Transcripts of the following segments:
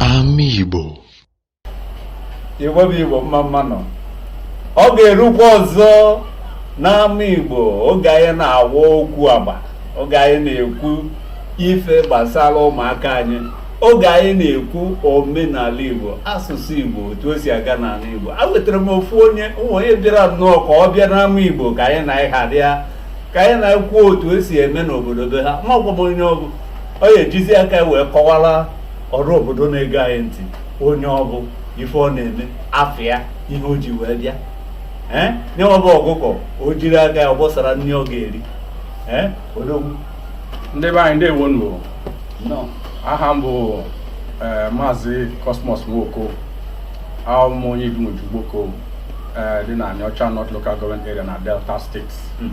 Ama Igbo Igbo bụ Igbo mma mma nụ oge erukwa ọzọ n'ama Igbo oge anyị na-awa okwu agba oge anyị na-ekwu ife gbasara ụmụaka anyị oge anyị na-ekwu omenala igbo asụsụ igbo otu o si aga n'ala igbo a wetara m ofu onye ụmụ onye bịara nnọọ ka ọbịa n'ama igbo ka anyị na anyị ha dịa ka anyị na ya kwuo otu o si eme n'obodo be ha amago m onye ọ bụ ọ ya ejizi aka ya wee kọwara ọra obodo na-ege anyị ntị onye ọ bụ ife ọ na-eme afịa ihe o ji wee bịa ee nya bụ ọkụkọ o jiri aka ya ọ bọsara nri ọ ga-eri ee odogwu ndị be anyị ndewo nụ aha m bụ eh, maazị Cosmos Nwoko abụ m onye Idumuje Ugboko eh, dị na Anịọcha North Local Government Area na Delta State hmm.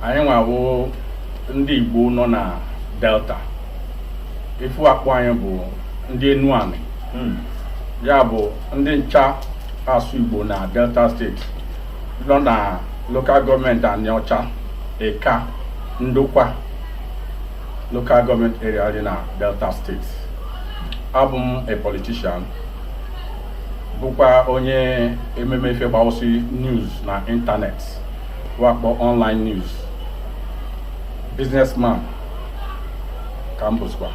anyịnwa wụ ndị Igbo nọ na Delta ife wa akpọ anyị bụ ndị Enuani hmm. ya bụ ndị ncha asụ Igbo na Delta State nọ na lokal gọọmenti Anịọcha Ika Ndokwa lokal gọọmenti area dị na Delta steeti abụ m a politician bụkwa onye ememe ife gbawụsị news na ịntanetị wa akpọ online news businessman ka m bụzikwa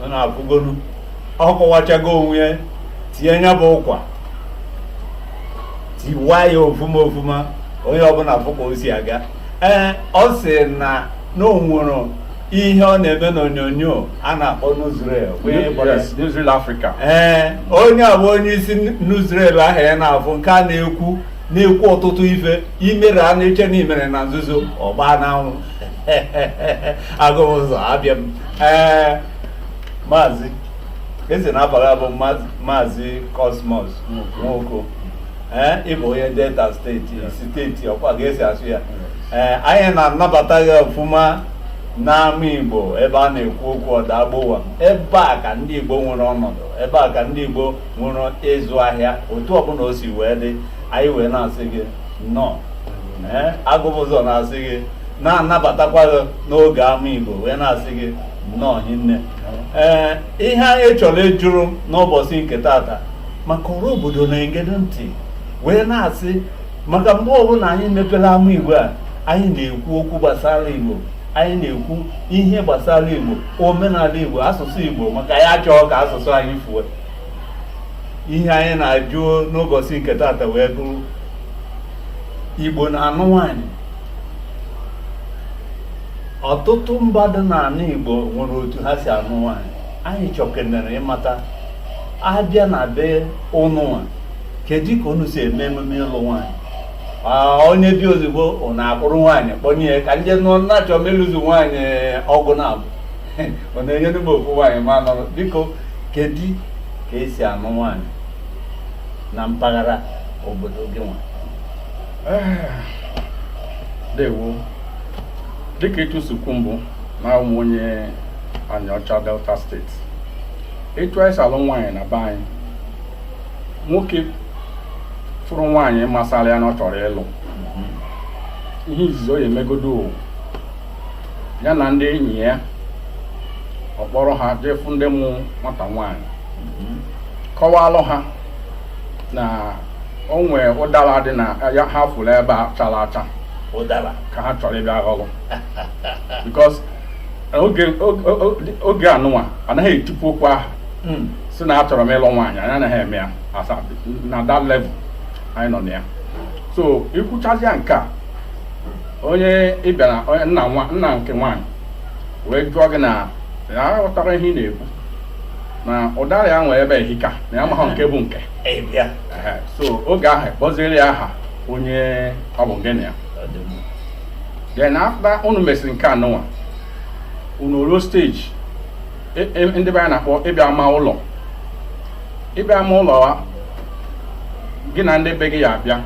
ọ na-akwụgonu ọ kọwachago onwe ya tinye nya bụ ụkwa tiwa ya ofuma ofuma onye ọbụla fụ ka o si aga ee ọ sị na na o nwere ihe ọ na-eme n'onyonyo a na-akpọ Newsreel wee gbara Yes, Newsreel Africa. ee onye a bụ onye isi Newsreel ahụ ya na-afụ nke a na-ekwu na-ekwu ọtụtụ ife i mere a na-eche na i mere na nzuzo ọ gbaa n'anwụ Agụbụzọ abịa m ee maazị ị sị na afa gị bụ maazị Cosmos Nwoko ee ị bụ onye Delta steeti steeti ọ kwa ka e si asụ ya ee anyị na-anabata gị ọfụma n'ama Igbo ebe a na-ekwu okwu ọda agbụwa ebe a ka ndị Igbo nwere ọnọdụ ebe a ka ndị Igbo nwere ịzụ ahịa otu ọbụla o si wee dị anyị wee na-asị gị nnọọ ee agụbụzọ na-asị gị na-anabatakwa gị n'oge ama Igbo wee na-asị gị nnọọ hinne ee ihe anyị chọrọ ịjụrụ n'ụbọchị nke tata maka ọra obodo na-egedo ntị wee na-asị maka mgbe ọbụla anyị mepere ama igbo a anyị na-ekwu okwu gbasara igbo anyị na-ekwu ihe gbasara igbo omenala igbo asụsụ igbo maka anyị achọọ ka asụsụ anyị fue ihe anyị na-ajụ n'ụbọchị nke tata wee bụrụ igbo na-anụ nwaanyị ọtụtụ mba dị n'ala Igbo nwere otu ha si anụ nwaanyị anyị chọkenere ịmata a bịa na be ụnụnwa kedu ka unu si eme emume ịlụ nwaanyị onye bịa ozugbo ụnụ akpụrụ nwaanyị kpọnye ya ka ndị nụọ nna chọọ m ịlụzi nwaanyị ọgụ na abụ ọ na-enyere m ofu nwaanyị ma nọrọ biko kedu ka e si anụ nwaanyị na mpaghara obodo gị nwa dewo dịka etu si kwu mbụ na awụ m onye Anịọcha Delta State etu anyị si alụ nwaanyị na be anyị nwoke fụrụ nwaanyị masara ya na ọ chọrọ ịlụ ihe izizi ọ ya-emegodo o. ya na ndị enyi ya ọ kpọrọ ha jee fụ ndị mụ nwata nwaanyị kọwalụ ha na o nwee ụdara dị na ya ha fụrụ ebe a chara acha ụdara ka ha chọrọ ịbịa ghọrọ because oge oge- oge- oge anụnwa a naghị etipu okwu ahụ Mm. sị na achọrọ m ịlụ nwaanyị anyị anaghị eme ya as at- na that level anyị nọ na ya so i kwuchazịa nke a onye ị bịara onye nna nwa nna nke nwaanyị wee jụọ gị na ya ghọtara ihe ị na-ekwu na ụdara ya nwere ebe a ehika na ya amaghị nke bụ nke so oge ahụ kpọziere ya aha onye ọ bụ gị na ya then after unu mesịrị nke anụnwa unu ruo stage e, e, ndị be anyị na-akpọ ịbịa ma ụlọ ịbịa ma ụlọ ahụ gị na ndị be gị ya-abịa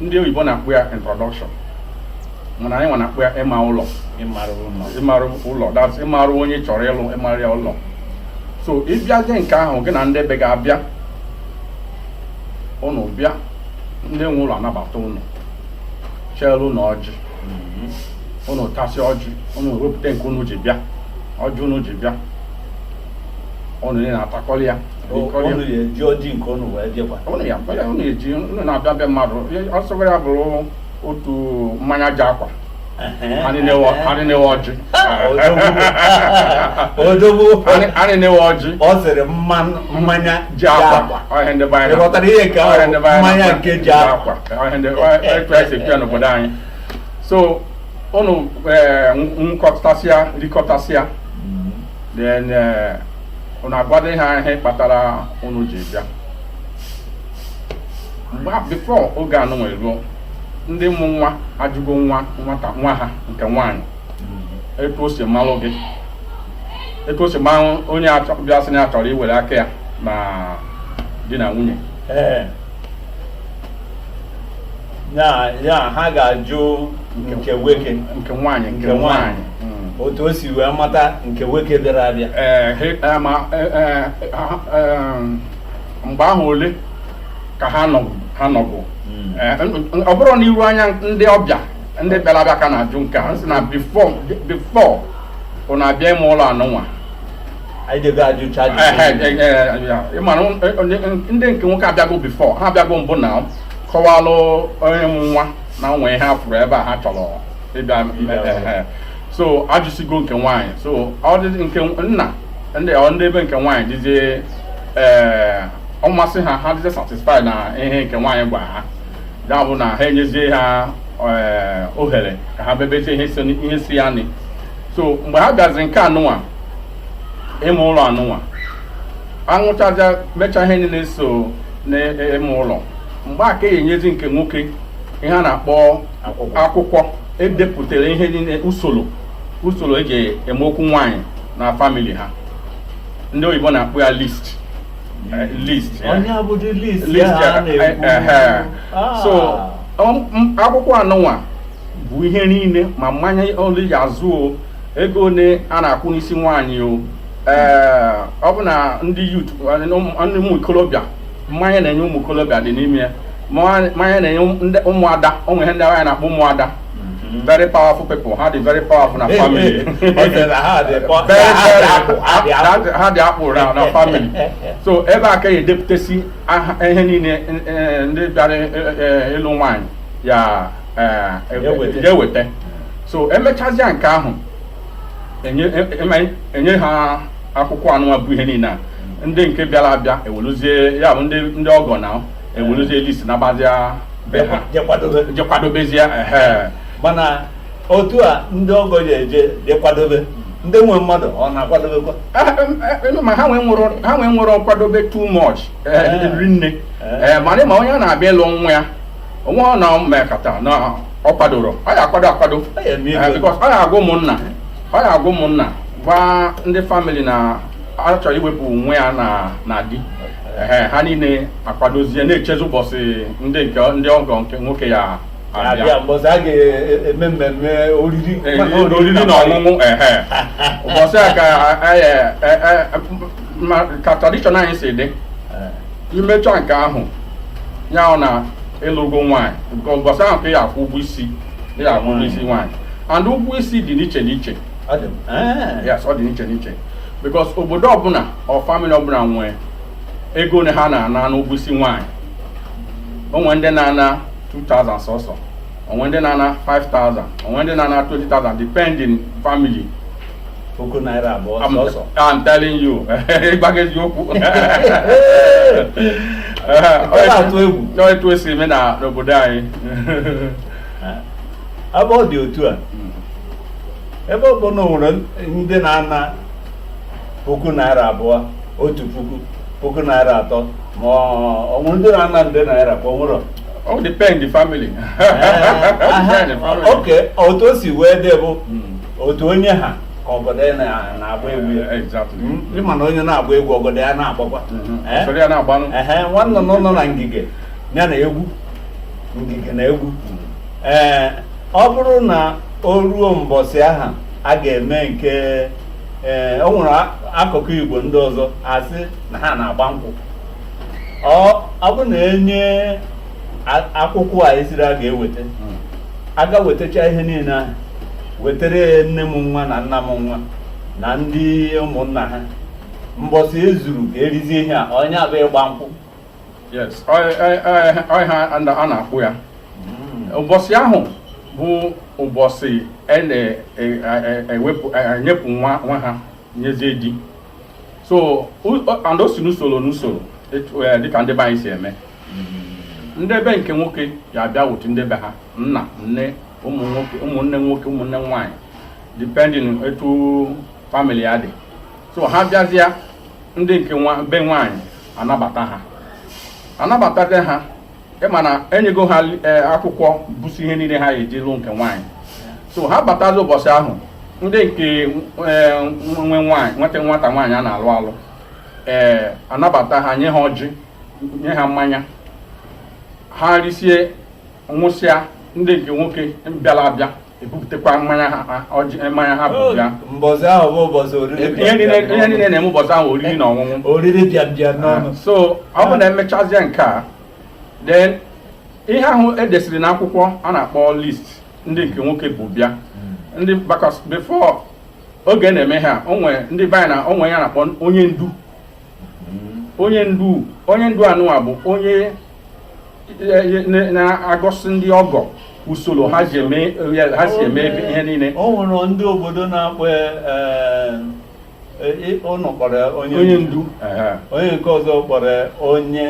ndị oyibo na-akpọ ya introduction mana anyị nwa na-akpọ ya ịma ụlọ ịmarụ ụlọ that ịmarụ onye chọrọ ịlụ ịmarụ ya ụlọ so ị bịazie nke ahụ gị na ndị be gị abịa ụnụ bịa ndị nwe ụlọ anabata ụnụ cheelu ụnụ ọjị ụnụ mm-hmm. tasị ọjị ụnụ wepụta nke ụnụ ji bịa ọjị ụnụ ji bịa ụnụ na-atakọrị ya ụnụ na-eji ọjị nke ụnụ wee bịakwa ụnụ na-abịa be mmadụ ọsọgara bụrụ otu mmanya ji akwa anyị na-ewe ọjị odogwu anyị na-ewe ọjị ọ sịrị mmanya ji akwa ọhịa ndị be anyị ghọtara ihe ka mmanya nke ji akwa ọhịa ndị etu anyị si bịa n'obodo anyị so ụnụ ṅụkọtasịa rikọtasịa then ụnụ agwado ihe ahụ kpatara ụnụ ji bịa mgbe before oge anụnwa eruo ndị mụ nwa ajụgo nwa nwata nwa ha nke nwaanyị etu o si malụ gị etu o si malụ onye bịa sị na ya chọrọ iwere aka ya na di na nwunye ya ha ga-ajụ nke nwoke nke nwaanyị nke nwaanyị otu o si wee mata nke nwoke bịara abịa mgbe ahụ ole ka ha nọbụ ha nọbụ Eh, n- n- ọ bụrụ n'iru anya ndị ọbịa ndị bịara abịa ka a na-ajụ nke a sị na before before ọ na-abịa ime ụlọ anụnwa anyị ga-ego ajụcha ajụjụ Ehe, eh, eh, ya. Ị mara, n- eh, n- ndị nke nwoke abịago before ha abịago mbụ na kọwalụ onye mụ nwa na o nwe ihe ha fụrụ ebe a ha chọrọ ịbịa m- eh, eh, eh. so ajụsigo nke nwaanyị so ọ dị nke nna ndị ọ ndị ebe nke nwaanyị dịzie ee ọ masị ha ha dịzie satisfy na ihe nke nwaanyị gwara ha ya bụ na ha enyezie ha ee, ohere ka ha bebezie ihe si ihe si ya nị so mgbe ha bịazi nke anụnwa ime ụlọ anụnwa anwụchaa mechaa ihe niile so n'ime ụlọ mgbe a ka a ya enyezi nke nwoke ihe a na-akpọ Akwụkwọ. akwụkwọ e depụtara ihe niile usoro usoro e ji eme okwu nwaanyị na family ha ndị oyibo na-akpọ ya list Eh, list ya. onye abụdị list List ya ya, a eh, eh, na-ekwu Ah. so um, m- akwụkwọ anụnwa bụ ihe niile ma mmanya ole ị ya azụ o ego ole a na-akwụ n'isi nwaanyị o ee ọ bụ na ndị youth ndị ụmụ ikolobịa mmanya a na-enye ụmụ ikolobịa dị n'ime ya mmanya a na-enye ụmụada o nwere ihe ndị anyị na-akpọ ụmụada mm-hmm. very powerful people ha dị very powerful na family ha dị akpụ ra na family so ebe a ka a ya edepụtasị ihe niile e, e, ndị bịara e, ịlụ nwaanyị ya eweta so emechazia nke ahụ enye ha akwụkwọ anụnwa bụ ihe niile a mm-hmm. ndị nke bịara abịa ewelụzie ya bụ ndị ọgọ na ewerezie list nabazia be ha je kwadobe je kwadobezie ehe mana otu a ndị ọgọ ya eje je kwadobe ndị nwe mmadụ ọ na-akwadobekwa Ah, em, eh, em, ma ha enwerọ ha enwerọ nkwadobe too much eh, Eh. ri nne Eh. Eh, mana ma onye a na-abịa ịlụ nwa ya onwe ọ na mmekọta na ọ kwadoro ọ ya akwado akwado Ọ ya eme Eh, ego. because ọ ya agwa ụmụnna ọ ya agwa ụmụnna gwa ndị family na a chọrọ iwepụ nwa ya na na di ehe ha niile akwadozie na-echezi ụbọsị ndị nke ndị ọgọ nke nwoke ya-abịa abịa mbọsị a ga-eme mmemme oriri Ee, maka oriri oriri na nkwari. ọṅụṅụ ehe ụbọsị a ka anyị, eh, eh, eh, ma- ka tradition anyị si dị Eh, imecha nke ahụ ya bụ na ịlụgo nwaanyị nke ụbọsị ahụ ka ị ya-akwụ ụgwọ isi ị akwụ ụgwọ isi nwaanyị and ụgwọ isi dị n'iche n'iche yes ọ dị n'iche n'iche because obodo ọbụla or family ọbụla nwee ego ole ha na-ana n'ụgwọ isi nwaanyị o nwere ndị na-ana 2000 sọsọ o nwere ndị na-ana 5000 o nwere ndị na-ana 20000 depending family puku naira abụọ sọsọ I'm telling you ịgwa gị eziokwu ọ na-atụ egwu etu e si eme na n'obodo anyị ebe ọ dị otu a ebe ọ bụ na o nwere ndị na-ana puku naira abụọ otu puku puku naira atọ ma o nwere ndị na-ana nde naira ka o nwere ọ depend the family oke otu o si wee dị bụ otu onye ha ka ọgọdọ ya na- na-agba egwu ya exactly Mm, ị ma na onye na-agba egwu ọgọdọ ya na-agbakwa Mhm. Eh? Soro ya na-agbanụ. Ehe, nwanne nọ nọ na ngige ya na egwu ngige na egwu ee ọ bụrụ na o ruo mbọsị ahụ a ga-eme nke ee o nwere a- akụkụ igbo ndị ọzọ a sị na ha na-agba nkwụ ọ ọ bụ na e nye a- akwụkwọ ihe a sịrị a ga-eweta a ga-ewetacha ihe niile ahụ wetara ya nne mụ nwa na nna mụ nwa na ndị ụmụnna ha mbọsị e zuru ka e rizie ihe a ọ nya bụ ịgba nkwụ ọ ihe a na-akpọ ya hmm. ụbọsị ahụ bụ ụbọsị a na-ewepụ e, e, enyepụ nwa ha nyezie di so and o si n'usoro n'usoro dịka ndị be anyị si eme hmm. ndị be nke nwoke ya-abịa with ndị be ha nna nne ụmụnne nwoke ụmụnne nwaanyị depending etu famili ya dị so ha bịazịa ndị nke nwa be nwaanyị anabata ha anabatazie ha ị ma na e nyego ha e, akwụkwọ bụsi ihe niile ha eji lụ nke nwaanyị so ha batazi ụbọsị ahụ ndị nke e, nwe nwaanyị nweta nwata nwaanyị a na-alụ alụ ee anabata ha nye ha ọjị nye ha mmanya ha risie ṅụsịa ndị nke nwoke bịara abịa ebupụtakwa mmanya ha ọjị mmanya ha bubịa mbọsị ahụ bụ ụbọchị oriri ihe niile ihe niile na-eme ụbọchị ahụ oriri na ọṅụṅụ oriri bịa bịa n'ọnụ so ọ bụ na emechazie nke a then ihe ahụ edesiri na akwụkwọ a na-akpọ list ndị nke nwoke bubịa ndị because before oge na-eme ihe a o nwe ndị be anyị na o nwe onye a na-akpọ onye ndu onye ndu onye ndu anụwa bụ onye na-agosi ndị ọgọ usoro ha si eme ihe niile o nwere ndị obodo na-akpọ eh, eh, ụnụ kpọrọ onye ndu onye nke ọzọ kpọrọ onye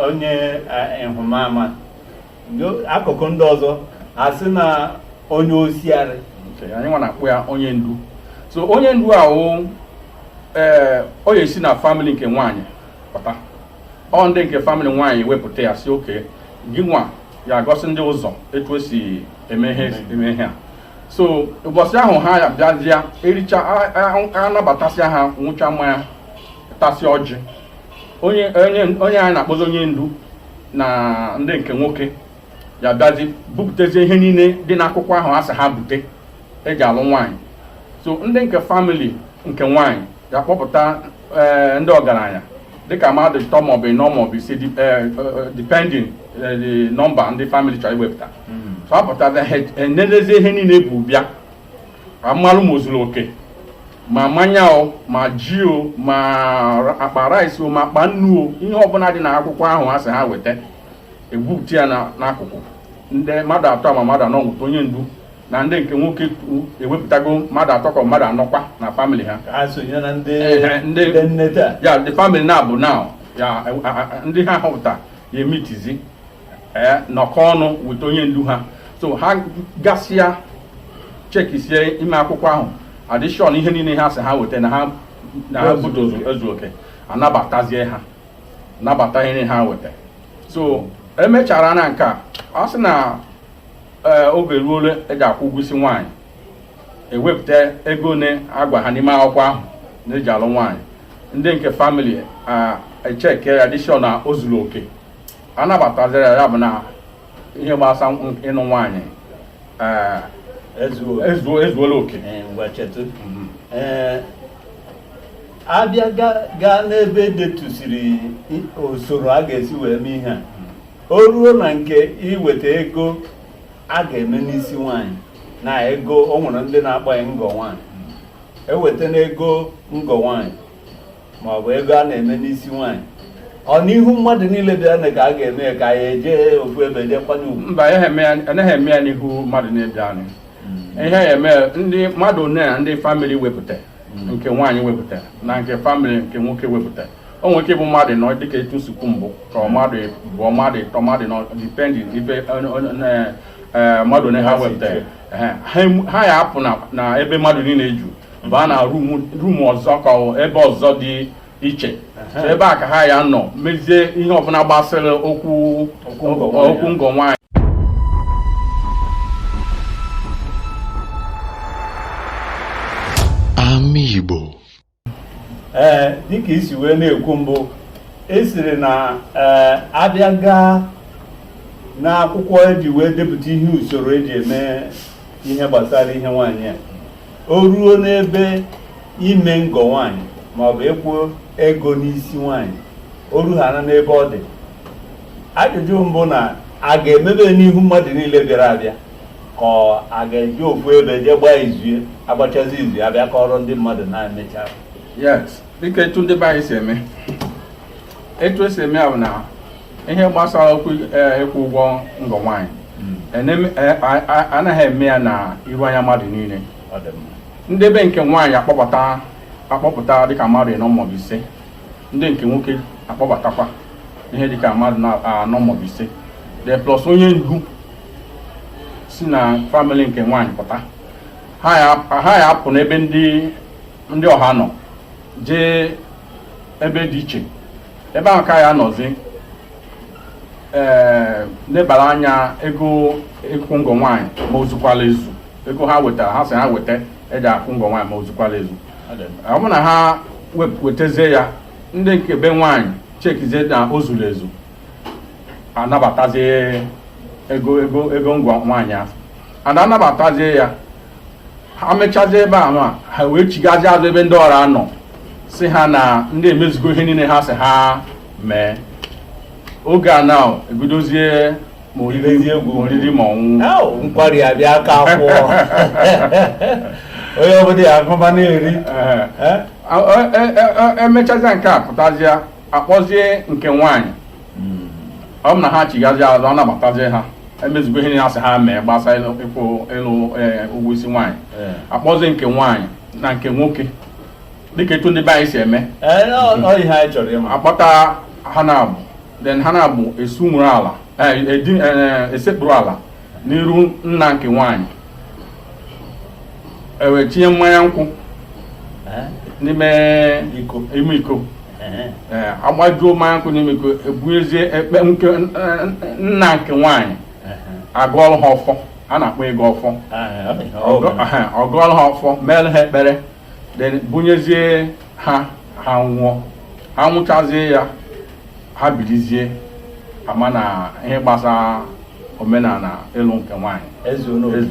onye eh, nhụmama akụkụ ndị ọzọ asị na onye ọsịarị anyị nwa na-akpọ ya onye ndu so onye ndu ahụ ee ọ ya-esi na family nke nwaanyị pụta ọ ndị nke family nwaanyị wepụta ya sị okay gị nwa ya-agosi ndị ụzọ etu esi eme ihe eme ihe a so ụbọchị ahụ ha ya bịazịa ericha anabatasịa ha nwụcha mmanya tasị ọjị onye onye anyị na-akpọzi onye ndu na ndị nke nwoke ya-abịazi bupụtazie ihe niile dị n'akwụkwọ ahụ a sị ha bute eji alụ nwaanyị so ndị nke family nke nwaanyị ga-akpọpụta eh, ndị ọgaranya dịka mmadụ ịtọ maọbụ ịnọ maọbụ ise eh, eh, depending the number ndị family chọrọ iwepụta hmm. so apụta enelezi ihe niile bubịa amalụ ma ozuru oke ma mmanya o ma ji o ma akpa rice o ma akpa nnu o ihe ọbụla dị n'akwụkwọ ahụ a sị ha weta ebupụta ya n'akụkụ ndị mmadụ atọ ma mmadụ anọ nweta onye ndu na ndị nke nwoke ewepụtago mmadụ atọ ka mmadụ anọkwa na family ha ya the family naabọ now ya ndị ha họpụta ya emitizi eh, nọkọ ọnụ weta onye ndu ha so ha gasịa chekisie ime akwụkwọ ahụ adị sure na ihe niile ha sị ha weta na ha na ha bute ezu oke anabatazie ha nabata ihe ha weta so emechara na nke a a sị na ee oge eruole eji akwụ ụgwọ isi nwaanyị ewepụta ego one a gwa ha n'ime akwụkwọ ahụ na eji alụ nwaanyị ndị nke family echeke ya dị sure na o zuru oke anabataziri ya bụ na ihe gbasa ịnụ nwaanyị ezuola oke abịa gaa n'ebe edetusiri usoro a ga-esi wee mee ihe a o ruo na nke iweta ego a ga-eme n'isi nwaanyị na ego o nwere ndị na-akpọ ya ngọ nwaanyị eweta n'ego ngọ nwaanyị ma ọ bụ ego a na-eme n'isi nwaanyị ọ n'ihu mmadụ niile bịa na ka a ga-eme ya ka a ya-eje ofu ebe jee kwanye ugwu mba ihe eme ya- anaghị eme ya n'ihu mmadụ na be anyị ihe a ya-eme ndị mmadụ one na ndị family wepụta nke nwaanyị wepụta na nke family nke nwoke wepụta o nwere ike ịbụ mmadụ ịnọ dịka etu m si kwu mbụ ka mmadụ ịbụọ mmadụ ịtọ mmadụ ịnọ depending ibe e, mmadụ one ha wepụtara ha ya-apụ na ebe mmadụ niile ju baa na room ọzọ ka ebe ọzọ dị iche ebe a ka ha ya-anọ mezie ihe ọbụla gbasara okwu okwu ngọ nwaanyị anị Igbo ee dịka i si wee na-ekwu mbụ ị sịrị na ee a bịa gaa n'akwụkwọ eji wee depụta ihe usoro eji eme ihe gbasara ihe nwaanyị a o ruo n'ebe ime ngọ nwaanyị maọbụ ịkwụ ego n'isi nwaanyị o ruhana n'ebe ọ dị ajụjụ m bụ na a ga-emebe n'ihu mmadụ niile bịara abịa ka a ga-eje ofu ebe jee gbaa izu a gbachazi izu a bịa kọrọ ndị mmadụ na e mecha yes dịka etu ndị be anyị si eme etu esi eme ya bụ na ihe gbasara okwu eh, ịkwụ ụgwọ ngọ nwaanyị hmm. ene- eh, a- a- anaghị eme ya na iru anya mmadụ niile ọ dị mma ndị be nke nwaanyị akpọpụta akpọpụta dịka mmadụ ịnọ maọbụ ise ndị nke nwoke akpọbatakwa ihe dịka mmadụ ịnọ maọbụ ise then plus onye ndu si na family nke nwaanyị pụta ha ya-apụ n'ebe ndị ọha nọ jee ebe dị iche ebe ahụ ka ha ya-anọzi ee eh, lebara anya ego ịkwụ ngọ nwaanyị ma o zukwala ezu ego ha wetara ha sị ha weta eji akwụ ngọ nwaanyị ma o zukwala ezu ọ bụ na ha wetazie ya ndị nke be nwaanyị chekizie na o zuru ezu anabatazie ego ego ego ngọ nwaanyị ahụ a na-anabatazie ya ha mechazie ebe ahụ a ha wee chighazie azụ ebe ndị ọra nọ sị ha na ndị emezugo ihe niile ha si ha mee oge a na ebidozie ma oriri egwu oriri ma ọṅụ nkwari abịa aka akwụọ onye ọbụla ya-aṅụba na-eri emechazia nke a pụtazịa akpọzie nke nwaanyị hmm. ọ bụ na ha chighazi azụ ọ nabatazie ha emezigo ihe na-asị ha mee gbasa ịkwụ ịlụ e, ụgwọ isi nwaanyị eh. akpọzie nke nwaanyị na nke nwoke dịka etu ndị be anyị si eme eh, akpọta ha n'abụọ then ha n'abụọ esu nwere ala eh, esekpuru ala n'iru nna nke nwaanyị ewee tinye mmanya nkwụ n'ime ime iko agbajuo mmanya nkwụ n'ime iko ebunyezie ekpe nke nna nke nwaanyị agọọlụ ha ọfọ a na-akpọ ịgọ ọfọ ọ gọọlụ ha ọfọ meelụ ha ekpere then bunyezie ha ha ṅụọ ha ṅụchazie ya ha bilizie ama na ihe gbasara omenala ịlụ nke nwaanyị eze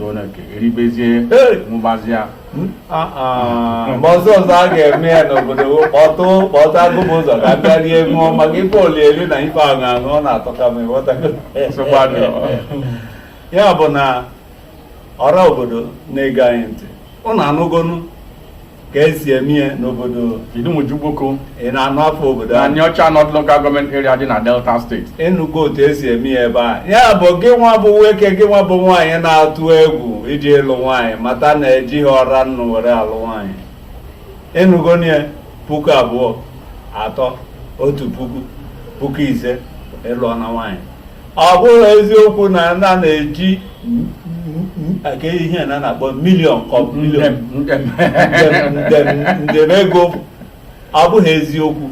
oneke eribezie ṅụbazia hmm? ah, ah. mgbe ọzọ ọzọ a ga-eme ya n'obodo kpọtụ kpọtụ agụba ụzọ ka ndị rie ṅụọ maka ife eli eli na ife aṅụ aṅụ ọ na-atọka m ya bụ na ọra obodo na-ege anyị ntị ụnụ anụgonu ka esi emie n'obodo Idumuje Ugboko ị na-anụ afa obodo na Aniocha North Local Government Area dị na Delta Steeti ịnụgo otu esi eme ya ebe a ya bụ gị nwa bụ nwoke gị nwa bụ nwaanyị na-atụ egwu ije ịlụ nwaanyị mata na ejighị ọra nnụ were alụ nwaanyị ịnụgo nie puku abụọ atọ otu puku puku ise ị lụọna nwaanyị ọ bụghị eziokwu na na na-eji nke ihe na na-akpọ milion kọ milion nde ego ọ bụghị eziokwu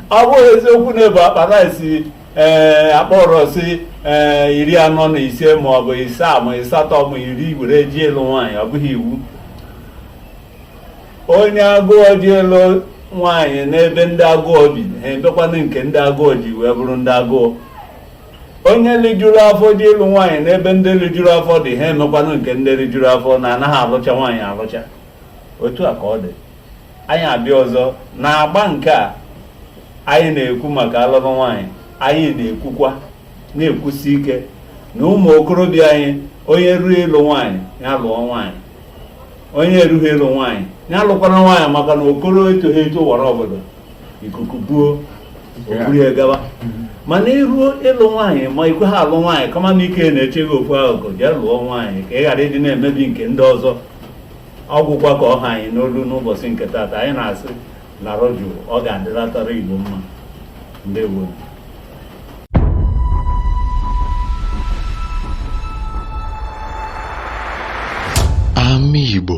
ọ bụghị eziokwu na ebu akpa rice ee akpa rice ee iri anọ na ise ma ọ bụ ịsaa ma ịsatọ ma iri were je ịlụ nwaanyị ọ bụghị iwu onye agụọ je ịlụ nwaanyị n'ebe ndị agụọ bi ha emekwanụ nke ndị agụọ ji wee bụrụ ndị agụọ onye lijuru afọ je ịlụ nwaanyị n'ebe ndị lijuru afọ dị ha emekwanụ nke ndị lijuru afọ na anaghị alụcha nwaanyị alụcha otu a ka ọ dị anyị abịa ọzọ n'agba nke a anyị na-ekwu maka alụlụ nwaanyị anyị na-ekwukwa na-ekwusi ike na ụmụ okorobịa anyị onye ruo ịlụ nwaanyị ya lụọ nwaanyị onye erughị ịlụ nwaanyị ya alụkwara nwaanyị maka na okoro etoghị eto wara ọgọdọ ikuku buo o buru ya gawa mana iruo ịlụ nwaanyị ma ikweghị alụ nwaanyị kama na ike na-eche gị okwu ahụ ka jee lụọ nwaanyị ka ị ghara ịdị na-emebi nke ndị ọzọ ọgwụkwa ka ọ ha anyị n'olu n'ụbọchị nke taata anyị na-asị nọrọ jụụ ọ ga-adịratara Igbo mma ndewo Ama Igbo